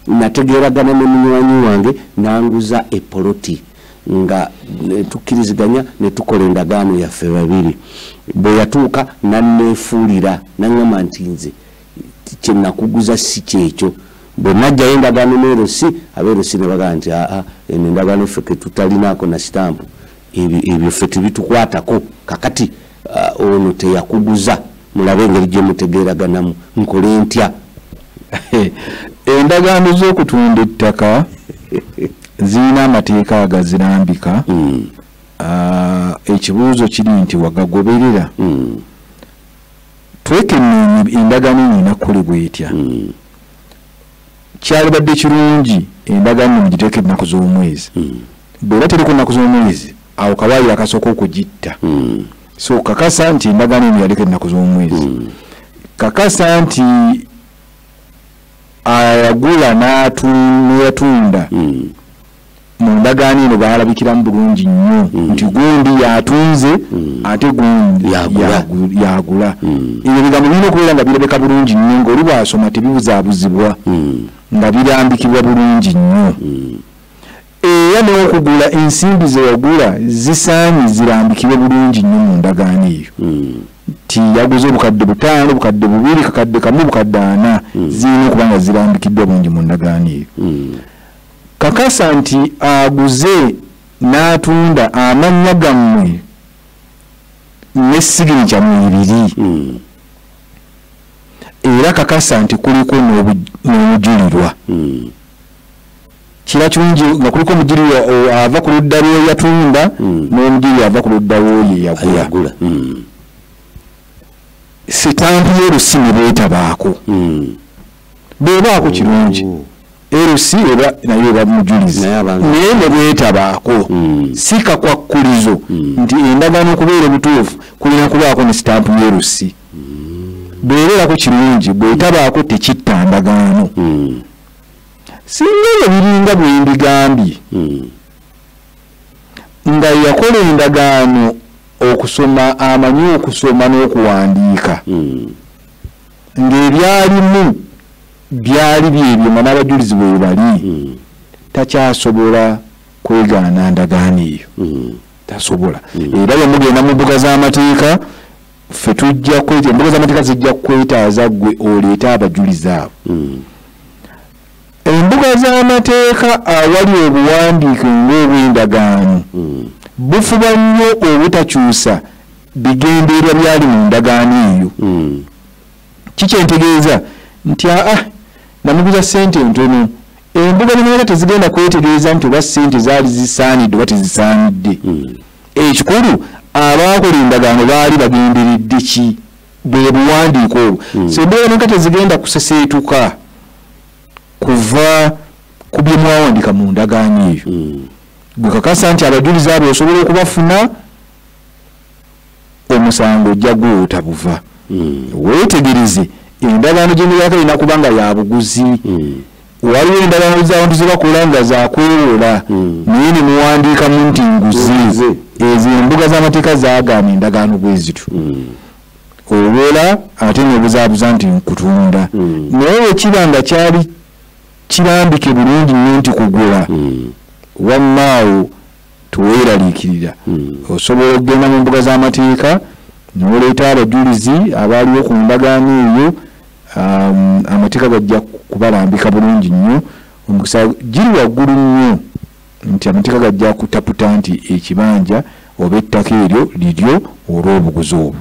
nategeeragana ne munywanyi wange nanguza epoloti nga eh, tukkiriziganya ne tukola endagaano yaffe babiri bwe yatuuka nanneefuulira naŋŋamba nti nze kye nakuguza si kyekyo bwe najjayo endagaano neerosi abeerosi ne bagamba nti aa eno endagaano ffe ke tutalinaako na sitampu ebyo ffe tebitukwatako kakati uh, ono teyakuguza mulabe engeri gyemutegeeraganamu nkole ntya endagaano z'okutunda ettaka zirina amateeka agazirambika hmm. uh, ekibuuzo kiri nti wagagoberera hmm. twekenneenya endagaano eno enakukolebwa etya hmm. kyalibadde kirungi endagaano eno giteeka ennaku z'omwezi bweba teriko ennaku z'omwezi awo kawaayiro akasooka okugitta hmm. so kakasa nti endagaano eno yaliko ennaku z'omwezi hmm. kakasa nti ayagula neyatunda hmm. mu ndagaano eno baalabikiramu bulungi nnyo nti gundi yatunze ate gundi yagula ebyo bigambo birina okubeera nga birabeka bulungi nnyo ngaoli bwasoma tebibuzaabuzibwa nga birambikibwa bulungi nnyo Era n'okugula ensimbi ze wagula zisaanye zirambikibwe bulungi nnyo mu ndagaano eyo hmm. nti yaguze obukadde butaano obukadde bubiri kakadde kamu obukadde ana hmm. zirina okuba nga zirambikiddwa bulungi mu ndagaano eyo hmm. kakasa nti aguze n'atunda amannya gammwe ne siginica mu ibiri era kakasa nti kuliko n'omujulirwa kiba kirungi nga kuliko omugiri ava ku ludda lweyatunda hmm. n'omugiri ava ku ludda lwoyo eyagula hmm. sitampu y'olusi ne beetabaako hmm. beebaako kirungi oh. erusi eba naye eba mujulizi naye ne bwetabaako si kakwakkulizo nti endagaano okubeera obutuufu kulina kubaako ne sitampu y'erusi bwebeerako kirungi bwetabaako tekitta ndagaano singa ebyo biringa bwembigambye hmm. nga yakola endagaano okusoma amanyi okusoma n'okuwandiika hmm. ng'ebyalimu byali byebyo nga n'abajulizi bwe bali hmm. takyasobola kwegaana ndagaano eyo tasobola era yamugenda mu mbuga z'amateeka ffe tujja kweta embuga z'amateeka zijja kwetaaza gwe oleete abajulizi abo hmm. embuga z'amateeka awali obuwandiike ng'obwendagaano hmm. bufuba nnyo obutakyusa bigendeerwa byali mu ndagaano eyo hmm. kikyentegeeza nti aa namuguza sente ntono embuga nenaera tezigenda kwetegereza nti oba sente zaali zisaanidde oba tezisaanidde Ekikulu abaakola endagaano baali bagenderedde ki? Bwe buwandiiko obwo. Hmm. So embeera neka tezigenda kuseseetuka kuva ku bye mwawandika mu ndagaano eyo. Hmm. Gwe kakasa nti abajulizi abo osobola okubafuna omusango ojja gwota buva. Hmm. Weetegereze endagaano gye muyaka erina kuba nga ya buguzi. waliwo endagaano zabantu zebakola nga zakwewola hmm. naye nemuwandiikamu nti nguzi ezo embuga zamateeka zagaana endagaano bwezityo hmm. owola ate nobuzabuza nti nkutunda hmm. naye wekiba nga kyali kirambike bulungi nyo nti kugula wammaawo teweeraliikirira hmm. osobola okugenda mu mbuga z'amateeka noleeta abajulizi abaaliwo ku ndagaano eyo um, amateeka gajja kubalambika bulungi nnyo omukisa giri waggulu nnyo nti amateeka gajja kutaputa nti ekibanja oba ettaka eryo liryo olw'obuguzi obwo